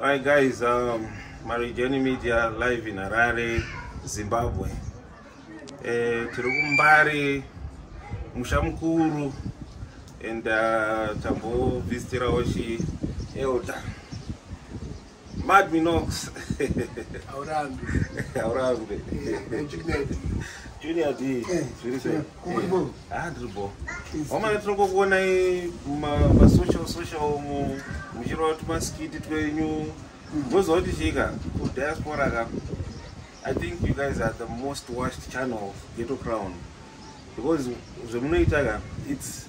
Hi guys, um, Marijoni Media live in Harare, Zimbabwe. eh, tiri kumbare musha mukuru and uh, tambovhisitirawo chi elder mad minox haurambe haurambe junior d eh, zviri sei ah ndiri bo omana tinongokuonai masocial social mu muchirova tumaskiti twenyu vozooti chika kudiaspora ka I think you guys are the most watched channel of Ghetto Crown because zvemunoita ka it's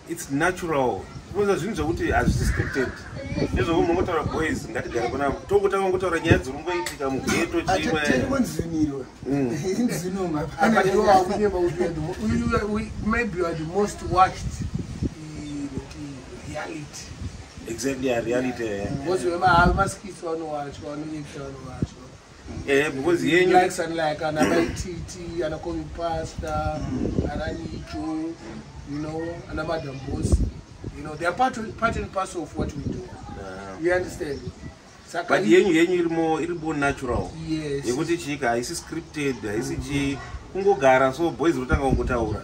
it's natural zvinoza zvinhu zvekuti hazvisi scripted nezvekuti munongotaura boys ngatigare kuna tokutanga kungotaura nyaya dziri kungoitika mugeto chimweexactly areality Eh, because he yenyu likes and like ana mai titi ana komi pasta ana nicho you know ana madam boss you know they are part, part and parcel of what we do yeah. you understand Saka but yenyu yenyu iri more iri more natural yes yekuti chika haisi scripted haisi chi kungogara so boys rotanga kungotaura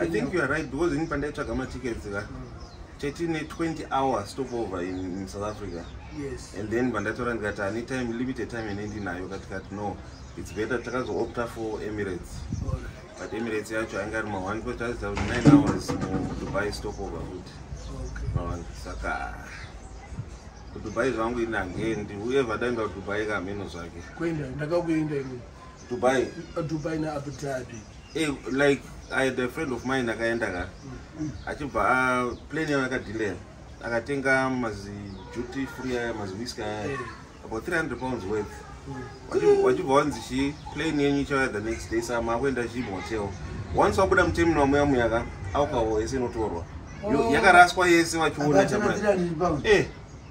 I think you are right because ini pandaitsvaga matickets ka chatine 20 hours stop over in, in south africa yes. and then pandatora ndikati ani time limited time ine ndinayo katikati no its better takazoopta for emirates but emirates yacho ainge ari ma1 ko taziva kuti 9 hours mudubai stop over futi saka kudubai zvangu ini hangendi uye vadaenda kudubai kamheno zvake dubai uh, dubai neabu dhabi hey, like i had a friend of mine akaenda ka mm. achibva ah, plan yayo yakadilea akatenga mazi duty free aya mazi whisk aya eh. about 300 pounds worth mm. wachibva wanzi chi plan yenyu ichauya the next day sama akuenda chi motel once wabuda mutemino wamuya muyaka alcohol yese inotorwa oh. yakaraswa yese vachiona chama eh.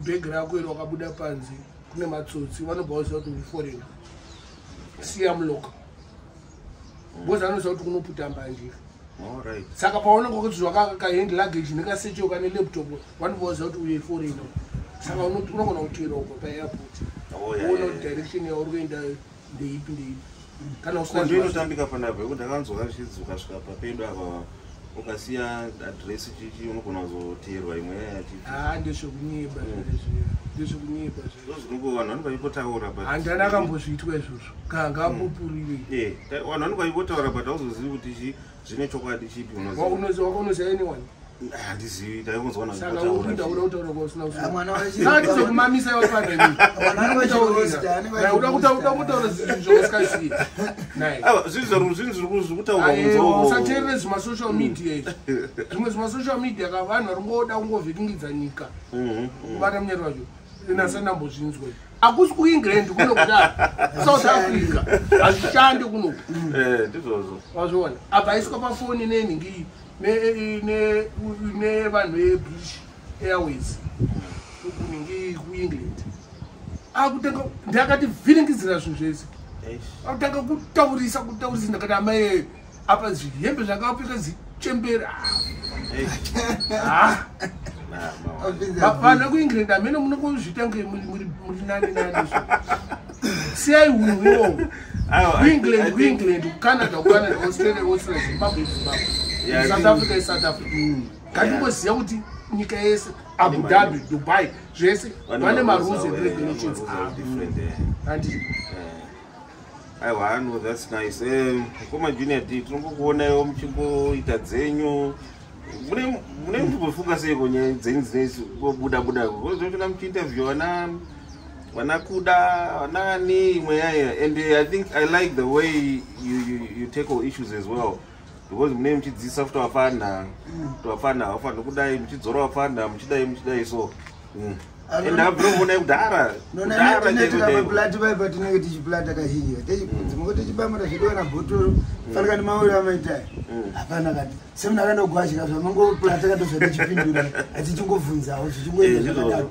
bhegi rako iri wakabuda panze kune matsotsi vanobva vaziva kuti uforeign siya muloka ngozi anoziva kuti kunoputa mbanje saka paononga kuti zvakakahand luggage nekasecho kane laptop vanobva vaziva kuti uye foreign saka unogona kutoera uko paairport oh, uona kuti direction yauri kuendayo ndeipi ndeipi kana usingakondo inotambika pandapo yekuti ndakanzwa kazvichidzuka svika papedu apa ukasiya adresi chichi unogona kuzoteerwa imwe yaya chichi haa ndezvekunyeba zvezviya ndezvekunyeba zvezvozvinongo vanhu vanenge vaipotaura but handani akambozviitwa izvozvo kanga ambopurire vanhu vanenge vaipotaura but auzozivi kuti chii zvine chokwadi chipi unoziva unoziva anyone handizivi taikunzwa naotauraotauraotauraotauraotauraotauraotauraotauraotauraotauraotauraotauraotauraotauraotaura zvimasocial media izvi zvimwe zvimasocial media ka vanhu vari ngoda kungovhiringidza nyika kubata munyari wacho inasandambozvinzwa akusi kuengland kuno kudai south africa hazvishande kuno eh, ndizvozvo vazviona apa aiswa pafoni nenhingi nevanhu vebritish airways kunhingi kuengland akutanga ndakati vhiringidzira zvinhu zvese akutanga kutaurisa kutaurisa ndakati amai apa zvihembe zvakapfeka zichembera ah. vana kuengland amene munokuzviita nge muri nani nani siyai hunhu iwowo kuengland kuengland kucanada kucanada australia australia zimbabwe zimbabwe south africa isouth africa mm. ngatingoziva kuti nyika yese abu dhabi dubai zvese vane marules and regulations avo ah. eh. aiwa no thats nice um, koma junior d tinombokuonayo muchimboita dzenyu mune muchimbofunga seiko nyaya dzenyu dzineisu bobuda buda kozotona muchiinterview vana vana kuda vanaani imwe yaya and i think i like the way you, you, you take all issues as well because munei muchidzidzisa kuti wapfanha kuti wapfanha haufanhi kudai muchidzora wapfanha muchidai muchidai so mm. and abromonai kudhara kudharablati vai patinenge tichiplata kazhinji dzimoko tichibamira zvedu kana bhotoro fanika ni mawiri amaitai hapana kati semunhu akaenda kugwashika zvamangoplata katozvatichipindura atichingobvunzawo zvichingoenda zvakadaro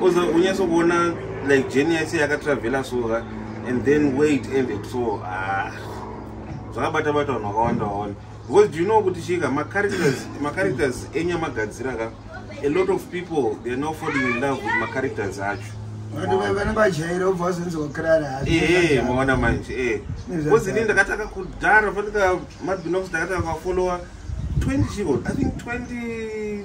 oza mm. unyaso kuona like jeni yaise yakatravela soka and then wait and so ah, zvakabata bata vanhu vakawanda waona because do you know kuti chika macharacters macharacters enyamagadzira ka a lot of people they are now falling in love with macharacters acho ee maona manje ee because ini ndakataka kudhara fanika madbinox ndakataka kufollowa 20 chiko i think 20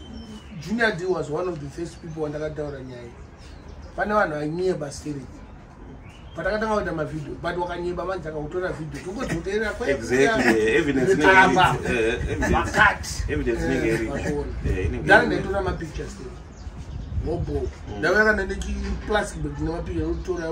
junior d was one of the first people wandakataura nyaya pane vanhu vanyeba spirit patakatanga kuita mavideo but wakanyeba manje akautora video tokozoteerera kwaaatdare ndaitora mapictures wobo ndavayakana nechiplastic bag nemapicture yokutora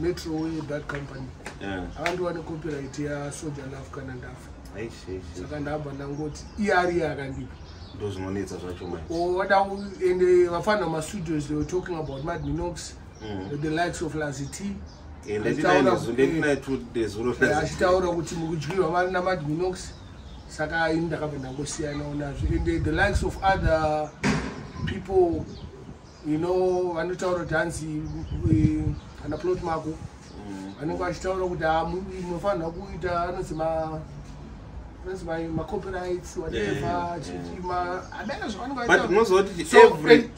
metro uye that company akandiwane copyright yasoja love kana ndafa saka ndabva ndangoti iari yakandipa ndozvinonetsa zvacho wada oh, and eh, vafanira mastudios they were talking about madminox mm. the likes of lazity achitaura kuti mukudyirwa mari namadminox saka ini ndakabva ndangosiyanawo nazvo and eh, the likes of other people you know vanotaura kuti hanzi eh, kana plot mako mm. vanenge vachitaura kuti ah, munofanirwa kuita anonzi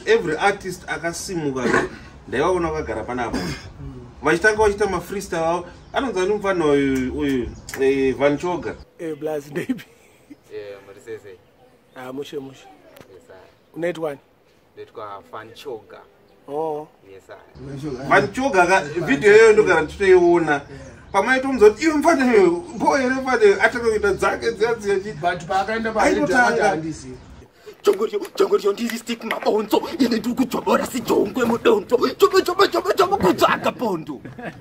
every artist akasimuka ndaivaona vakagara panapa vachitanga vachiita mafreestyle avo anonzi ani mufana uyu uyu eh, van choga eh, blas ndeipi ah, mushe mushe unaitwani ndoitwa fanchoga oh. fanchoga ka vhidhiyo iyoyo ndogara ndichitoiona pamaitomuza kuti iwe mfana mbo here mfana atanga kuita dzake dziya dziya chii but paakaenda paaitotanga chongorio chongorio ndiri stik mabonzo ine ndiri kudzvobora sijongwe mudonzo chobo chobo chobo chobo kutsvaga pondo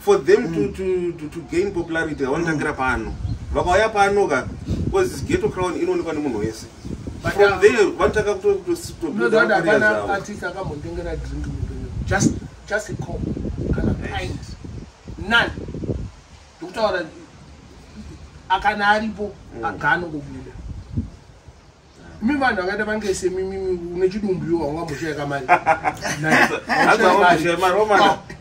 for them mm. to, to, to, to gain popularity havanotangira mm. pano vakauya pano ka bcause geto crown inoonekwa nemunhu wese from there vanotanga kutoatis akambotengera drink just just a cop kana pint none ndikutaura akana aripo mm. aganongobuda mi vanhu vakaita vange semimimi une chidumbu iwo haungamboshaya kamari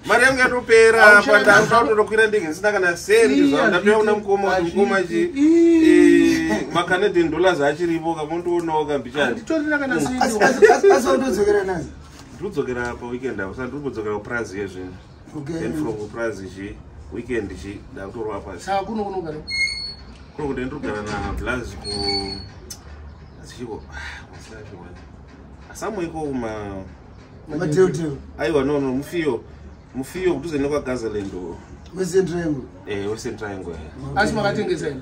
mari yangu yatopera pandaautatokwira ndege ndisina kana sendi zvandatouya kuna mukoma kuti mukoma chi eh, macanadian dollars achiripo kamondoonawo kambichati ndodzokerapa weekend apo sandiri kudzokera kupraz yezvinhu okay then from prize zhi weekend zhi ndakutorwa pasi saka kuno kuno kana kuno kuti ndrugara na blaz ku asichiko wasati wani asamu iko kuma mateo teo aiwa no no mufiyo mufiyo kutuze ne kwa gazaland western triangle eh western triangle asi makatengesa ina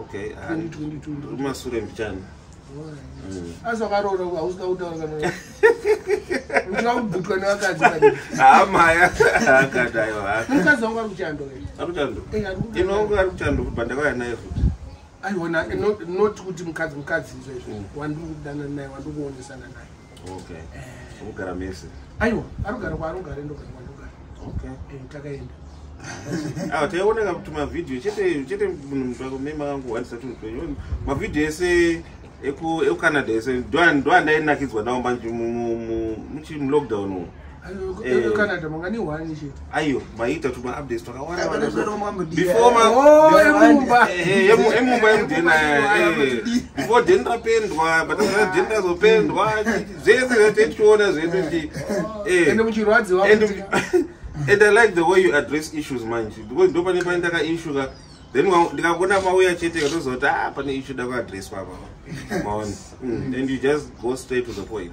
okay kumasure mbichana mm. asi wakaroora hausina kutaura kana uchina kubvutwa nevakadzi amaya ah, akadaiwamukadzi wangu ari kuchando ari kuchando eh, inongo ari kuchando kuti bandakauya naye futi aiona not kuti mukadzi mukadzi izvo izvo mm. wandiri kudana naye wandiri kuonesana naye okay unogara mese aiwa anogara kwaanogara ndogara kwandogara okay eh, takaenda awa ah, taioneka kuti mavhidhiyo chete chete munhu mnhu wako mema kangu wandisa tunhu twenyu mavhidhiyo ese ekucanada ese ndoandainakidzwa nawo manje mulockdown umu Eh. canada manga ni one chete ayo maita tuma updates twakawanda vana before ma oh emumba eh, eh, emumba emudena before den rapendwa but kana den razopendwa zvese zvese tichiona zvese ti eh ende muchirwadziwa and and i like the way you address issues manje because ndo pane pane ndaka issue ka then ndikakona mauya chete katozoti ah pane issue da ku address papa maona mm, and you just go straight to the point